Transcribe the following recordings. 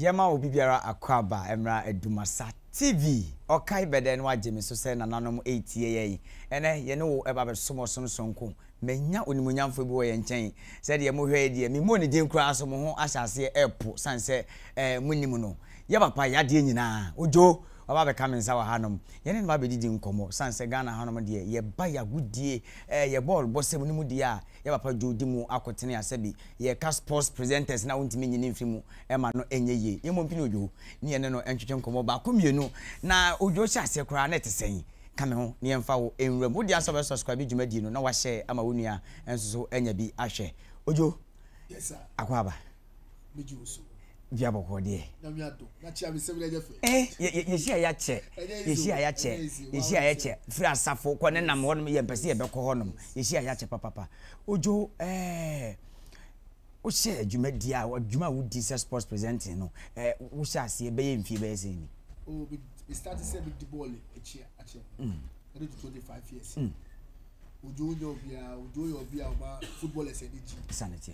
Yɛma obi biara akwaaba mmra Dumasa TV. Ɔkae bɛdɛ na wagye me so sɛ nananom retie yɛn. Ɛnɛ yɛne wo ɛba bɛsom ɔsom sononko. Manya onimuonyamfoɔ bi wɔ yɛn nkyɛn. Sɛdeɛ mohwɛ yi deɛ memmɔɔ ne din koraa so mo ho ahyɛ aseɛ ɛpo sane sɛ eh, monim no. Yɛ papa yadeɛ nyinaa. Ojo. Waba abɛka me nsa wɔ hanom. Yɛne no abɛdidi nkɔmmɔ. Sane sɛ Ghana hanom deɛ, yɛba yɛ agodie, ɛɛ yɛ bɔɔl bɔsɛm no mu deɛ a, yɛ papa Joe di mu akotene a, sɛbi yɛka sports presenters no a wontumi nyi ne mfiri mu ɛma no ɛnyɛ yie. Yɛmmɔ mpini Odwo ne yɛne no ntwetwe nkɔmmɔ baako mmienu. Na Odwo hyɛ aseɛ koraa na ɛte sɛn? Ka me ho na yɛmfa wo nwura mu. Wo deɛ asɛ wobɛ subscribe dwumadie no na wahyɛ ama wo nua nso so anya bi ahwɛ. Odwo, Yes sir. Akwaaba. dua bɔkɔɔ deɛ yɛsi a yɛakyɛ yɛsi a yɛakyɛ yɛsi a yɛkyɛ firi asafo kɔ ne nam hɔnom yɛmpɛ sɛ yɛbɛkɔ hɔnom yɛsi a yɛakyɛ papapa odwo ɛɛ wohyɛ dwumadi a adwuma a wodi sɛ sports presenting no ɛɛ wohyɛ aseɛ bɛyɛ mfie bɛyɛ sɛ ni. o bi bi start sɛ bi di bɔɔl akyi akyɛ ɛdi to twenty five years odwo nyɛ obiara odwo yɛ obiara ɔba footballers ɛni gyi. sanni tiɛ.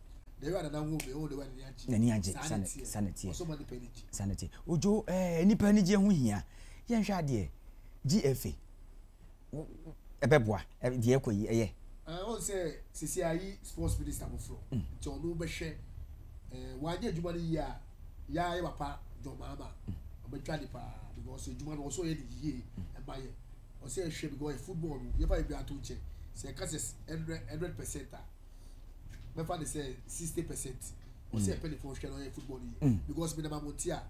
n'ani agye sane sane teɛ sane teɛ odwo ɛɛ nipa anigye ho hia yɛnhwɛ adeɛ gfa ɛbɛboa deɛ ɛkɔ yi ɛyɛ. ɔn sɛ sisi ayi sports minister foforɔ mm. nti ɔno bɛhwɛ ɛɛ wanyɛ adwuma no yie a yaa yɛ papa John Mahama mm. ɔbɛtwa ne paa because adwuma no ɔsɔ yɛ ne yie mm. ɛma yɛ ɔsɛ ɛhwɛ because football no yɛfa yɛ bi ato nkyɛn sɛ ɛka sɛ hundred percent a. mɛfa ne sɛ sixty percent ɔsɛ mm. ɛpɛlifo hwɛ na ɔyɛ football yi mm. because mi nam amonti a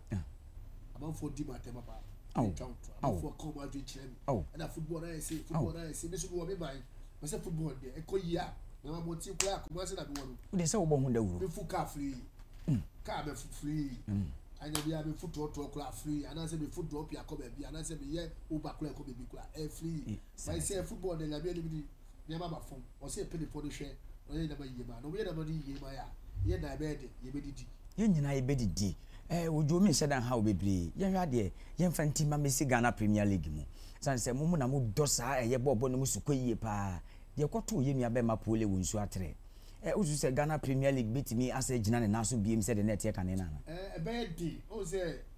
amanfoɔ di mu atɛm papa ɛtwa wo to amanfoɔ ka ɔmo adwene kyerɛ mi ɛna football na yɛ se football na yɛ se mi nso mi wɔ mi ban mɛ sɛ football deɛ ɛkɔ yie a nam amonti koraa akoma ase na mi wɔ no. o de sɛ o bɔ ho dawuro. mi fu kaa firi mm. kaa mɛ fu firi anya bi a mi fu tɔɔtɔɔ koraa firi anaasɛ mi fu dɔɔpi akɔ baabi anaasɛ mi yɛ uber koraa ɛkɔ baabi koraa ɛfiri bayi sɛ football deɛ nyame ɛni mi ni. nneɛma aba fam, ɔsɛ yɛpɛ nnipa a wɔde hwɛ na wɔyɛ nneɛma yiye ma. Na wɔyɛ nneɛma no yiye ma yɛn a, ɛyɛ dɛn a ɛbɛyɛ den, yebedidi? Yɛn nyinaa yebedidi. Ɛɛ, odwo me nhyɛ da nhaw bebree. Yɛnhwɛ adeɛ, yɛmfa nti mma mesi Ghana Premier League mu. Ɛsiane sɛ mo mo na modɔ saa ɛyɛ bɔɔlbɔ no mu sukɔ yiye pa ara. Deɛ ɛkɔtoo yɛn nua bɛrima Pole wɔ nsuo atere. Ɛɛ, wosusu sɛ Ghana Premier League betumi asɛ agyina ne nan so bio sɛdeɛ na ɛteɛ kane no anaa? Ɛɛ, ɛbɛyɛ den. Wohu sɛ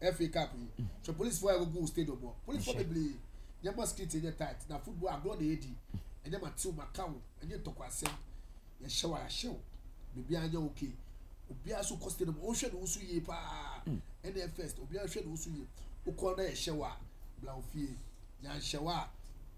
FA Cup yi so polisifo a wɔgu stadium hɔ polisifo bebree nyɛ ma street nyɛ tight na football agorɔ na yɛdi ɛnyɛ ma tew ma kaw ɛnyɛ ntɔkwasɛm yɛhyɛ wa yɛahyɛw biribiara nyɛ okay obiara so kɔ stadium ɔnhwɛ ne ho so yie paa mm. ɛna first obiara hwɛ ne ho so yie wokɔ na yɛhyɛ wa bla ofie yɛanhyɛ wa a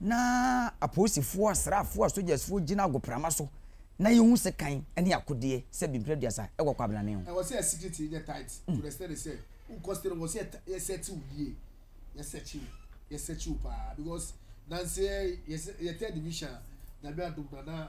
na apolisifo, asraafo, asogyasfo gyina agoprama so na yehu sekan ne akodeɛ sɛ bi mpere aduasa wɔ kwabnane ho. Ɛwɔ sɛ yɛ security nyɛ tight to the extent sɛ wo costume no wɔ sɛ yɛ search wo yie, yɛ search wo, yɛ search wo paa because nanse yɛ third division a Nyame adom no a na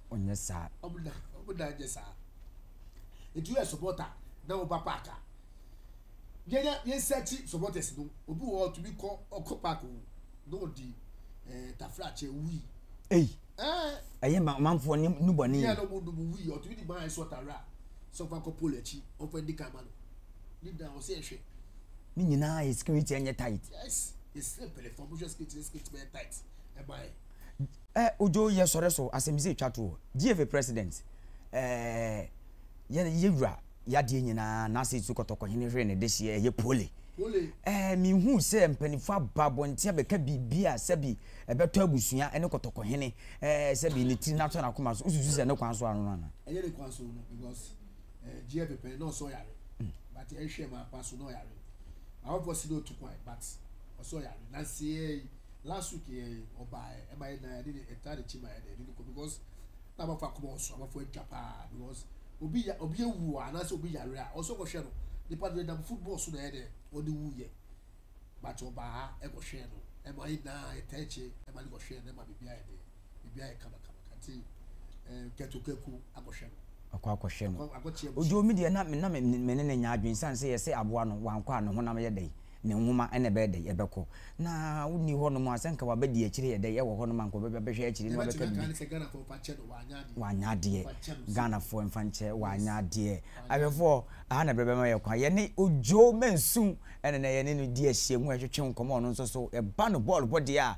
ɔnyɛ saa. Ɔmo na ɔmo na nyɛ saa. Etu yɛ supporter na woba park a, yɛnyɛ yɛn search supporters no. Obi wɔ hɔ ɔtumi kɔ ɔkɔ park o na ɔdi ɛɛ eh, tafrakyɛ wii. Ei. Ɛɛ. Eh. Ɛyɛ ma ɔmanfoɔ ne nu bɔne. Yɛ na ɔmo numu wii ɔtumi di maa ɛsɔ tawura a sɛ ɔfa kɔ pole akyi ɔfa ndi kan ma no. Ne nyinaa ɔsɛ ɛhwɛ. Ne nyinaa yɛ security ɛnyɛ tight. Yes, yɛ sɛ pɛlɛfɔ ɔmo hwɛ security ne security bɛyɛ tight ɛma yɛ. Ɛ odwo yɛ sɔre so asɛmdze etwa to o GFA president ɛɛ yɛ yɛ wura yɛ adeɛ nyinaa n'ase etu kɔtɔkɔhene hwere ne dehyeɛ ɛyɛ pole ɛɛ mehu sɛ mpanimfoɔ aba abɔnten abɛka biribi a sɛbi ɛbɛtɔ abusua ɛne kɔtɔkɔhene ɛɛ sɛbi ne tiri n'atɔ n'akoma so wosusu sɛ ne kwan so ano ana. ɛyɛ ne kwan so no because ɛɛ eh, gyeɛ pɛpɛ na ɔsɔ yare hmm. but ɛhwɛ eh, ma akwa so na ɔyare awɔpɔ si na otu kwan but ɔsɔ yare nansi ɛɛ. Eh, last week yɛ ɔbaa ɛma yɛ nan ɛde ne ɛta ne kyi ma yɛ dɛ ɛde ne kɔ because na abafo akoma ɔso abafo adwa paa because obi ya obi ewu a anaasɛ obi yare a ɔsɛ ɔkɔhwɛ no nipa no ɛnam football so na ɛyɛ dɛ ɔde wu yɛ but ɔbaa ɛkɔhwɛ no ɛma yɛ nan ɛta ɛkyi ɛma ne kɔhwɛ no ɛma bibi ayɛ dɛ. ebi ayɛ kamakama nti kɛtokɛku akɔhwɛ no ɔkɔ akɔhwɛ no odwo mi deɛ na na me ne ne nya adwene san sɛ yɛsɛ aboa no wankɔ a ne honam yɛ dɛ ne nwoma ɛna ɛbɛyɛ dɛ ɛbɛkɔ na wonni hɔ nom a sɛ nka wabɛdi akyire yɛ dɛ ɛwɔ hɔ nom a nka ɔbɛbɛ bɛhwɛ akyire na ɔbɛka bibi wanyɛ adeɛ Ghanafoɔ mfa nkyɛ wanyɛ adeɛ ahwɛfoɔ aha na bɛbɛma yɛ kwan yɛne odwo mansu ɛna na yɛne no di ahyia mu ɛtwetwe nkɔmɔ ɔno nso so ɛba no bɔɔl bɔ deɛ a